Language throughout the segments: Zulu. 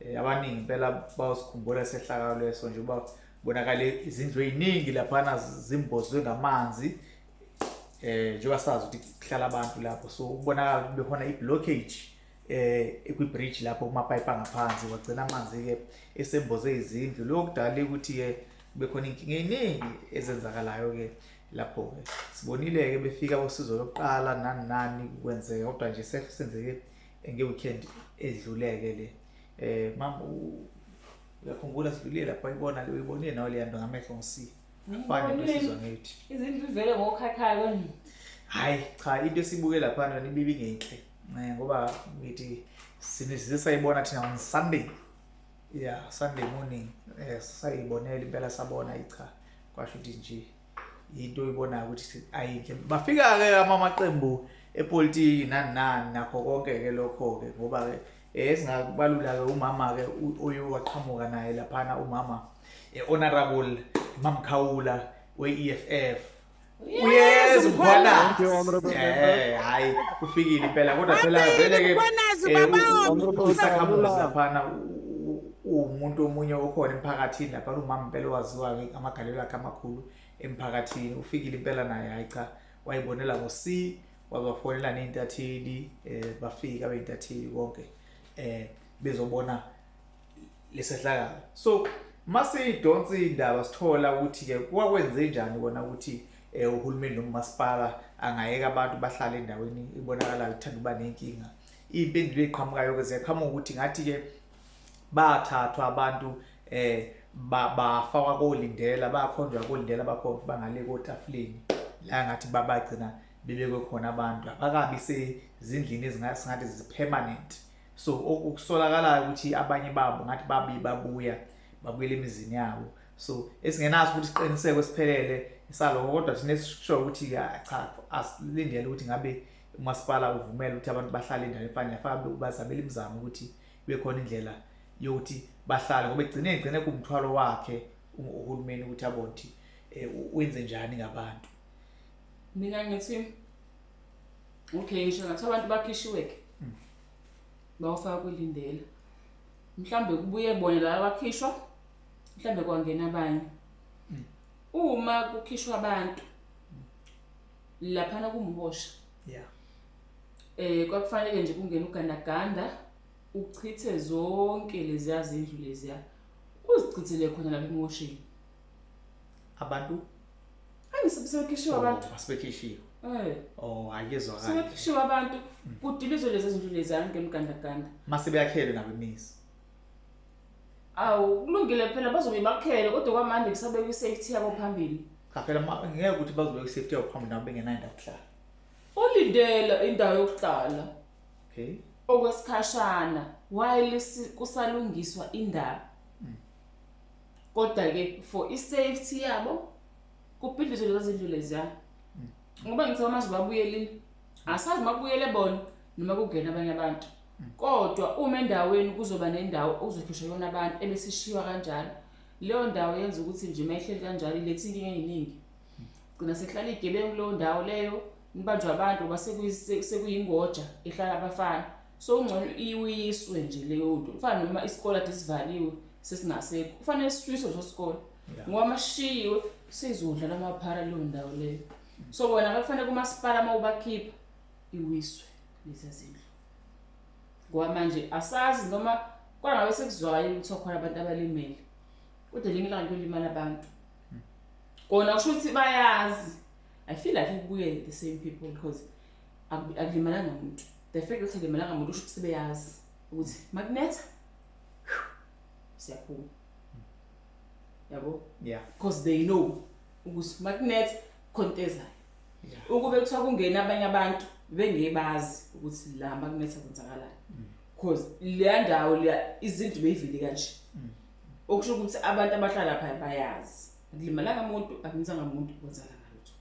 Eh, abaningi impela bawusikhumbula sehlakalo leso nje uba bonakale izindlu eziningi laphana zimbozwe ngamanzi eh njengoba sazi ukuthi kuhlala abantu lapho so ukubonakala ukuthi bekhona i-blockage eh kwi-bridge lapho kumapayipi angaphansi wagcina amanzi-ke esemboze izindlu lokho kudale ukuthi-ke bekhona inkinga eyiningi ezenzakalayo-ke lapho-ke sibonile-ke befika bosizo lokuqala nani nani kwenzeka kodwa nje sesenzeke ngeweekend edluleke le eh mama uyakhumbula sidlulile lapha uyibona le uyibonile nawe leya nto ngamehlo ngisifa fane besizwa ngithi izindlu ivele ngokhathayo kanje hayi cha into esibuke lapha nona ibibi ngenhle eh, ngoba ngithi sinisize sayibona thina on sunday yeah sunday morning eh sayibonela impela sabona icha kwasho ukuthi nje yinto oyibonayo ukuthi ayinhle bafika-ke amamaqembu epolitiki nani nani nakho konke-ke lokho-ke ngoba-ke eh, esingabalula-ke umama-ke uye waqhamuka naye laphana umama eh, honorable mamkhawula we-e f f Yes, mkhwana. Eh, hayi kufikile impela kodwa phela vele ke eh, usakhamuzi laphana uwumuntu omunye okhona emphakathini lapha lumama impela owaziwayo amagalelo akhe amakhulu emphakathini ufikile impela naye hayi cha wayibonela ngo-c wabafonela ney'ntatheli um bafike abey'ntatheli konke um bezobona lesehlakalo so masiyidonsa iy'ndaba sithola ukuthi-ke kwakwenze njani kona ukuthi um uhulumeni nomasipala angayeka abantu bahlale endaweni ibonakalayo ithanda uba nenkinga iy'mpendulo ey'qhamukayo-ke ziyaqhamuka ukuthi ngathi-ke bathathwa abantu eh bafakwa kolindela bakhonjwa kolindela bakhona bangale kotafuleni la ngathi babagcina bebekwe khona abantu abakabi sezindlini ezingathi zipermanent so okusolakalayo ukuthi abanye babo ngathi babi babuya babuyela emizini yabo so esingenaso ukuthi siqiniseko esiphelele saloko kodwa thina esisho ukuthi cha asilindele ukuthi ngabe umasipala uvumela ukuthi abantu bahlale endaweni efanayo afake bazamele imizamo ukuthi kube khona indlela yokuthi bahlale ngoba egcine egcine kumthwalo wakhe uhulumeni ukuthi abone ukuthi eh, wenze njani ngabantu mina ngithi okay ngisho ngathi abantu bakhishiwe ke hmm. bawufaka kwilindela mhlambe kubuye bona la bakhishwa mhlambe kwangena abanye hmm. uma kukhishwa abantu hmm. laphana kumhosha yeah eh kwakufanele nje kungena ugandaganda uchithe zonke leziya zindlu leziya uzichithele khona lapha emoshini abantu angisebekhishiwe oh, abantu asibekhishiwe eh oh ayezwa kahle sebekhishiwe abantu kudilizwe lezi zindlu leziya ngemgandaganda mase beyakhelwe nabo imizi Awu kulungile phela bazobe bakhele kodwa kwamanje kusabeka i-safety yabo phambili. Cha phela ma- ngeke ukuthi bazobeka i-safety yabo phambili nabo bengenayo indawo yokuhlala. Olindela indawo yokuhlala Okay. okwesikhashana while si- kusalungiswa indaba. Kodwa ke for i-safety yabo kubhidlizwe lezo zindlu leziya. Ngoba ngithe manje babuyelile. Asazi makubuyele bona noma kungena abanye abantu. Kodwa uma endaweni kuzoba nendawo okuzokhishwa kuyona abantu ebesishiywa kanjalo, leyo ndawo yenza ukuthi nje uma ihleli kanjalo iletha inkinga eyiningi. Gcina sekuhlala iy'gebengu kuleyo ndawo leyo, nibanjwa abantu ngoba sekuyingoja ehlala abafana. So kungcono iwiswe nje leyo nto. Kufana noma isikole ade sivaliwe sesingasekho. Kufanele sishiswe leso sikole. Ngoba uma sishiyiwe seyizodla lamaphara leyo ndawo leyo. So wena kufanele kumasipala uma ubakhipha iwiswe lezi zindlu. ngoba manje asazi noma kwangabe sekuzwayo ukuthi okhona abantu abalimele kodwa linye ilanga kuyolimala abantu kona kusho ukuthi bayazi i feel like kubuye the same people because akulimalanga umuntu the fact ukuthi akulimalanga umuntu usho ukuthi sebeyazi ukuthi makunetha siyaphuma yabo yeah because they know ukuthi makunetha khontezayo ukube kuthiwa kungena abanye abantu bengebazi ukuthi la makunetha kwenzakalani mm. because leya ndawo leya izinto beyivile kanje mm. okusho ukuthi abantu abahlala phaya bayazi akulimalanga muntu akunzanga muntu kwenzala ngalutho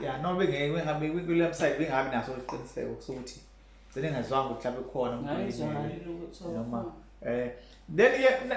ya no bengeke bengabe kule website bengabi naso iqiniseko ukuthi gcine ngazwanga ukuthi lapho khona umuntu noma eh then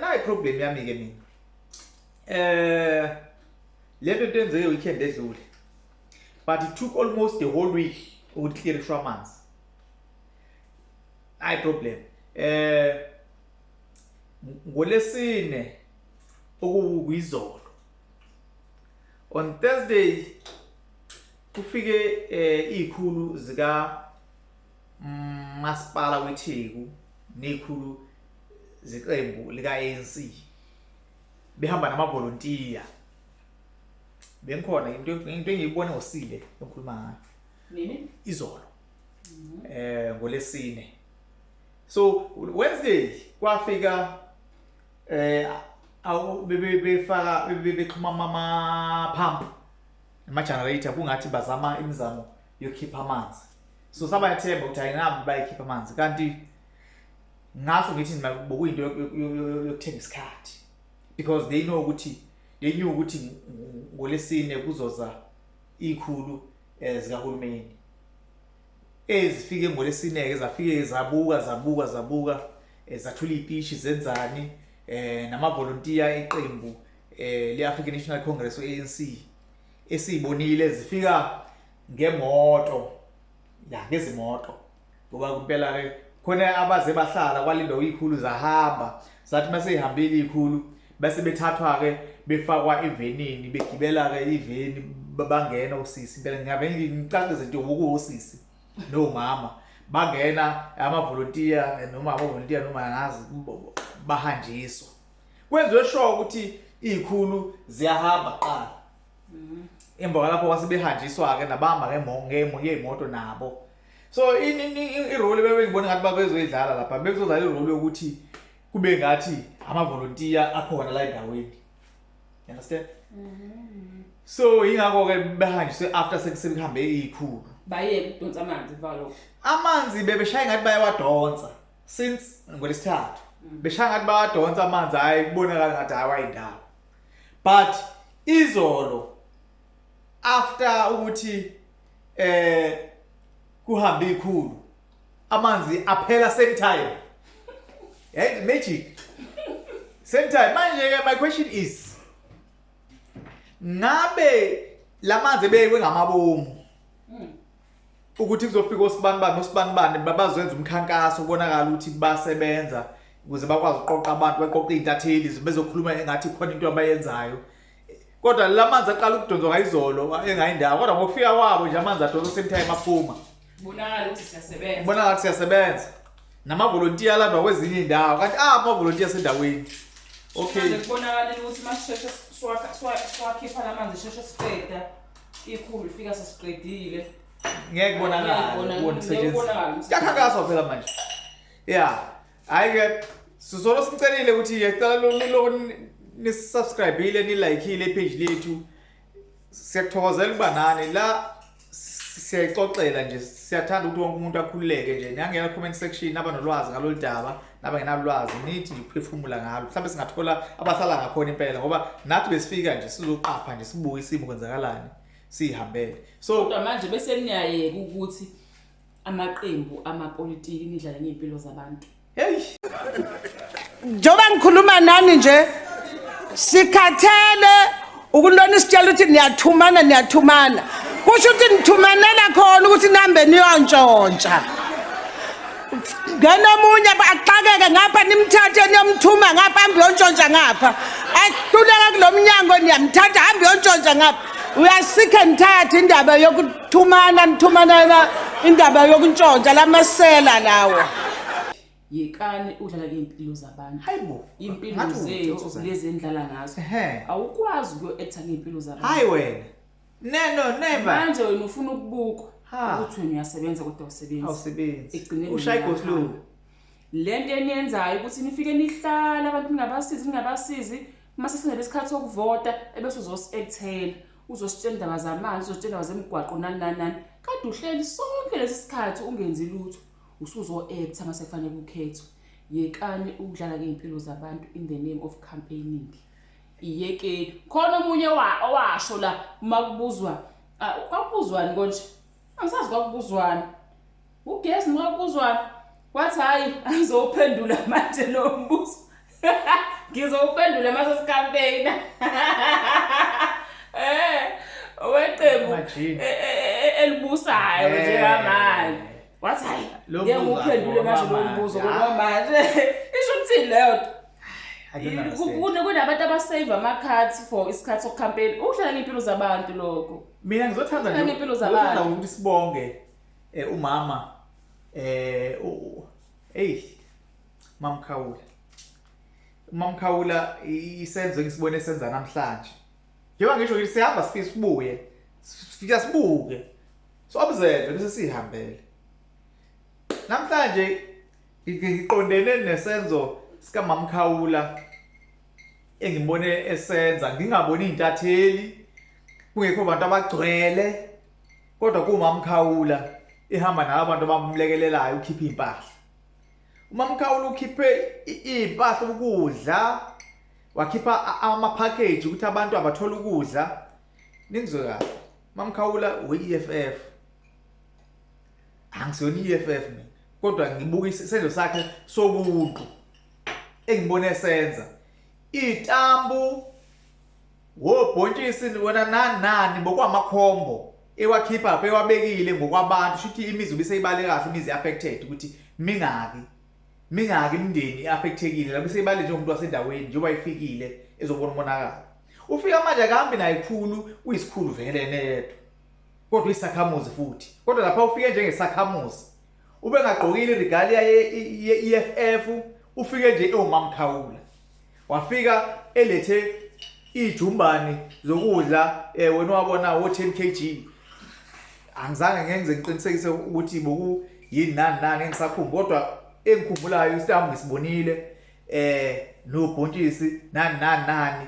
nayi problem yami ke mina eh lento into enzeke weekend edlule but it took almost the whole week ukuthi clear ishwa amanzi i problem eh ngolesine okuwizolo on Thursday kufike eh ikhulu zika mm, masipala weTheku nekhulu zeqembu lika ANC behamba namavolontiya bengikhona into into engiyibona ngosile engikhuluma ngayo nini izolo mhm. eh ngolesine so wednesday kwafika eh awu bebefaka bebexhuma mama pump ama generator kungathi bazama imizamo yokukhipha amanzi so saba yathemba ukuthi ayinabi bayikhipha amanzi kanti ngasho ngithi nima bokuyinto yokuthenga isikhathi because they know ukuthi they knew ukuthi ngolesine kuzoza ikhulu eh, zikahulumeni ezifike ngolesine-ke zafike zabuka zabuka zabuka eh, zathula iy'pishi zenzani um namavolontiya eqembu um le-african national congress o-anc esiyibonile zifika ngemoto ya ngezimoto ngoba kumpela ke khona abaze bahlala kwalindo ikhulu zahamba zathi mase ihambile ikhulu bese bethathwa ke befakwa evenini begibela ke iveni bangena usisi impela ngiyabe ngicacise nje ukuwusisi no mama bangena amavolontiya noma amavolontiya noma ngazi bahanjiswa kwenziwe sure ukuthi izikhulu ziyahamba qala mhm. emva kwalapho kwase behanjiswa-ke nabahamba ngey'moto nabo so irole bebengibona ngathi babezoyidlala lapha bekuzodlala irole yokuthi kube ngathi amavolontiya akhona la endaweni you understand mm-hmm. so yingakho-ke behanjiswe after sekuhambe iyikhulu bayeke ukudonsa amanzi valo amanzi bebeshaye ngathi bayawadonsa since ngolesithathu mm. beshaya ngathi bawadonsa amanzi hhayi kubonakala ngathi hhayi wayindawo but izolo after ukuthi eh kuhambe ikhulu amanzi aphela same time hey magic same time manje ke my question is ngabe lamanzi ebekwe ngamabomu hmm. ukuthi kuzofika osibani bani osibani bani babazenza umkhankaso ubonakala ukuthi basebenza ukuze bakwazi ukuqoqa abantu baqoqa izintatheli bezokhuluma engathi khona into abayenzayo kodwa la manzi aqala ukudonzwa ngayizolo engayindawo kodwa ngokufika kwabo nje amanzi adonsa same time aphuma bonakala ukuthi siyasebenza bonakala ukuthi siyasebenza namavolontiya alandwa kwezinye iy'ndawo kanti ah amavolontiya asendaweni okay kubonakalile ukuthi uma sisheshe siwakhipha la manzi sheshe siqeda ikhulu ifika sesiqedile ngeke kubonakale kubona kusetshenziswa kuyakhankaswa phela manje ya yeah. hayi ke sizolo simcelile ukuthi yecela loloni nisubscribile nilayikhile ipage lethu siyakuthokozela ukuba nani la siyayixoxela nje siyathanda ukuthi wonke umuntu akhululeke nje niyangena comment section naba nolwazi ngalolu daba naba ngenalwazi nithi nje ukuphefumula ngalo mhlawumbe singathola abahlala ngakhona impela ngoba nathi besifika nje sizoqapha nje sibuke isimo kwenzakalani siyihambele so manje bese niyayeka ukuthi amaqembu amapolitiki nidlala ngey'mpilo zabantu heyi njengoba ngikhuluma nani nje sikhathele ukunibona isitshela ukuthi niyathumana niyathumana kusho ukuthi nithumanela khona ukuthi nihambe niyontshontsha ngena omunye axakeke ngapha nimthathe niyomthuma ngapha hambe yontshontsha ngapha ahluleka kulo mnyango niyamthatha hambe yontshontsha ngapha uyasikhe nithathe indaba yokuthi Thumana nithumana indaba yokuntshontsha lamasela lawo. yekani udlala ngey'mpilo zabantu Hayi bo. iy'mpilo Ngathi zethu ungithokoza. lezi endlala ngazo Ehhe. awukwazi ukuyo-ektha ngey'mpilo zabantu Hayi wena. Neno never. manje wena ufuna ukubukwa Ha. ukuthi wena uyasebenza kodwa awusebenzi Awusebenzi. Ekugcineni Ushaya niyahamba. igoslow. le nto eniyenzayo ukuthi nifike nihlale abantu ningabasizi ningabasizi Uma sesingena isikhathi sokuvota ebese uzosi-ekthela uzositshela indaba zamanzi uzositshela indaba zemigwaqo nani nani nani kade uhleli sonke lesi sikhathi ungenzi lutho usuzo-ektha uma sekufanele kukhethwe yekani ukudlala ngey'mpilo zabantu in the name of campaigning iyekeni khona omunye owasho la uma kubuzwa kwakubuzwani konje angisazi kwakubuzwani ugesi noma kubuzwani wathi hhayi angizowuphendula manje lo mbuzo ngizowuphendula mase sikampeyina eh weqembu e- e- e- elibusayo eh. njengamanje wathi hayi ngeke nguphendule manje lo mbuzo ngoba manje isho ukuthi leyo kunabantu abasave ama-cards for isikhathi sokucampaign ukuhlala ngey'mpilo zabantu lokho mina ngizothanda Sibheke nje- impilo zabantu. ngizothanda ukuthi sibonge eh, umama eh u- u- eyi mamkhawula umamkhawula i- isenzo engisibone senza namhlanje njengoba ngisho ngithi sihamba sifike sibuye sifika sibuke so observe bese sihambele namhlanje Ngiqondene nesenzo sikamamkhawula engimbone esenza ngingaboni intatheli kungekho abantu abagcwele kodwa kumamkhawula ihamba nawo abantu abamlekelelayo ukhipha impahla umamkhawula ukhiphe impahla ukudla wakhipha ama package ukuthi abantu abathola ukudla ningizwe kahle mamkhawula we EFF angisona iEFF mina kodwa ngibuka isenzo sakhe sobuntu engibone esenza itambu wobhontshisi wena nani nani bokwamakhombo ewakhipha lapha ewabekile ngokwabantu shuthi imizi ubiseyibale kahle imizi affected ukuthi mingaki mingaki imndeni iaffectekile lapho seyibale nje umuntu wasendaweni njengoba ifikile ezobona umonakalo ufika manje akahambi naye khulu uyisikhulu vele neyedwa kodwa isakhamuzi futhi kodwa lapha ufike njengesakhamuzi ubengagqokile iregalia ye-EFF ufike nje ewumamkhawula wafika elethe ijumbani zokudla eh wena wabona wo 10 kg angizange ngenze ngiqinisekise ukuthi boku yini nani nani engisakhumbu kodwa engikhumbulayo istambu ngisibonile eh nobhontshisi nani nani nani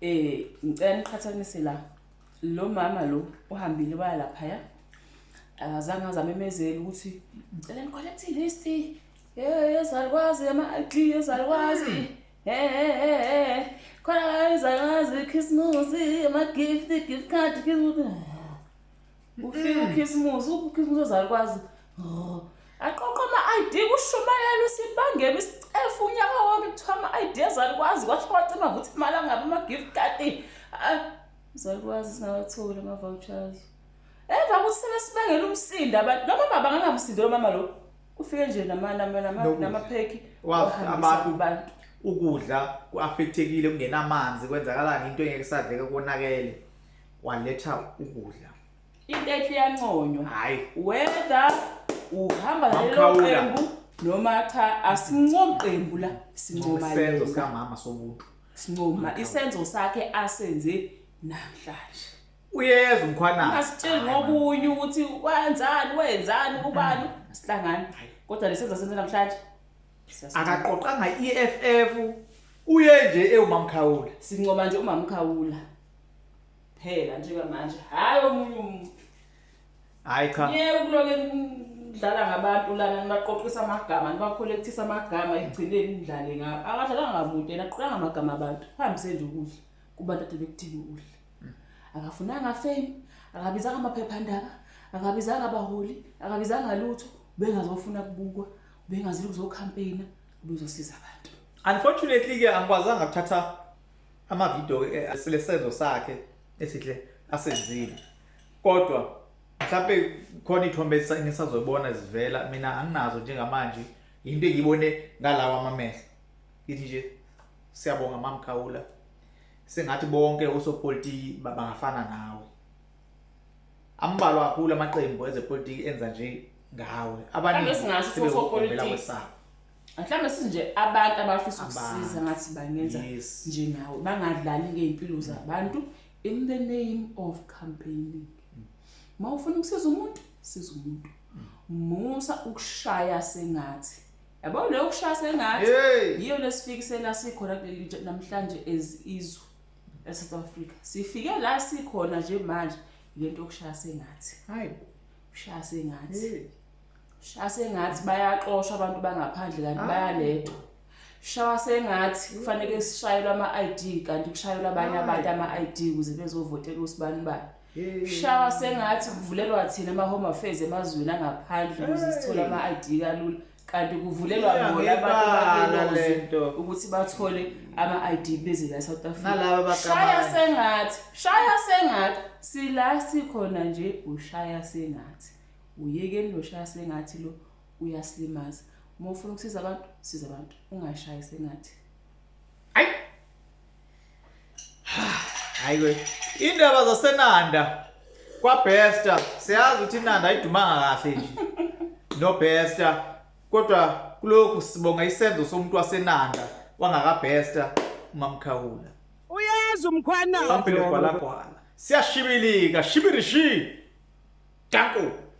Eh ngicela niqhathanise la. Lo mama lo uhambile waya lapha ya. Akazange azame emezela ukuthi ngicela nicollect list. Eh yezalukwazi ama ID yezalukwazi. He he he. Khona la yezalukwazi Christmas ama gift gift card Christmas. Ufika ukhisimusi, ukhisimusi ozalukwazi. Aqoqa ama-ID kushumayela usibangela isicefu unyaka wonke kuthiwa ama-ID ezalukwazi kwasho kwacima ukuthi imali angabi ama-gift card. Izalukwazi singawatholi ama-vouchers. Emva kokuthi sebesibangela umsindo abantu noma baba ngangamsindo lo mama lo. Ufike nje nama nama nama namapheki. Wazi abantu abantu ukudla kuaffectekile kungenamanzi kwenzakalani into engeke sadleke konakele. waletha ukudla intetho iyanconywa hayi whether uhamba lelo qembu noma cha asincomi qembu la sincoma isenzo sikamama somuntu sincoma isenzo sakhe asenze namhlanje uyeza umkhwanazi asitsheli ngokunye ukuthi wenzani wenzani ubani sihlangana kodwa lesenzo senze namhlanje akaqoqanga i-EFF uye nje ewumamkhawula sincoma nje umamkhawula phela njengamanje hayi omunye umuntu hayi cha ngeke ukuloke nidlala ngabantu lana nibaqoqisa amagama nibakhulekthisa amagama ekugcineni nidlale ngabo akadlalanga ngamuntu yena aqoqanga amagama abantu hambise nje ukudla kubantu ade bekuthini ukudla hmm. akafunanga fame akabizanga amaphephandaba akabizanga abaholi akabizanga lutho bengazofuna kubukwa bengazile kuzokhampeyina ubezosiza abantu unfortunately ke angikwazanga ukuthatha amavidiyo eh, silesenzo sakhe esihle asenzile kodwa mhlawumbe khona iy'thombe engisazoyibona zivela mina anginazo njengamanje yinto engiyibone ngalawa amamehlo ngithi nje siyabonga mamkhawula sengathi bonke osopolitiki bangafana nawe ambalwa kakhulu amaqembu ezepolitiki enza nje ngawe abanye singasho osopolitiki mhlawumbe sinje abantu abafisa ukusiza ngathi bangenza njengawe bangadlali ngey'mpilo zabantu in the name of campaigning uma ufuna ukusiza umuntu siza umuntu musa ukushaya sengathi yabo leyo ukushaya sengathi yiyo lesifikisela sikhona kuleli namhlanje as izwe eSouth Africa sifike la sikhona nje manje lento okushaya sengathi hayi ushaya sengathi Shaya sengathi bayaxoshwa abantu bangaphandle kanti ah. bayalethwa. Shaya sengathi kufanele sishayelwe ama-ID kanti kushayelwa abanye abantu ama-ID ukuze bezovotela usibani bani. Shaya sengathi kuvulelwa thina ama-home affairs emazweni angaphandle ukuze sithole ama-ID kalula. kanti kuvulelwa bona abantu ukuthi bathole ama-id beze la south africashaya sengathi shaya sengathi sila sikhona nje ushaya sengathi Uyekeni loshaya sengathi lo uyasilimaza. Uma ufuna ukusiza abantu, siza abantu. Ungashayi sengathi. Hayi. Hayi we. Indaba zasenanda kwa Bester siyazi ukuthi inanda ayidumanga kahle nje. No Bester kodwa kulokhu sibonga isenzo somuntu wasenanda wangaka Bester umamkhawula. Uyazi umkhwana. Bampilo kwala kwala. Siyashibilika, shibirishi. Danko.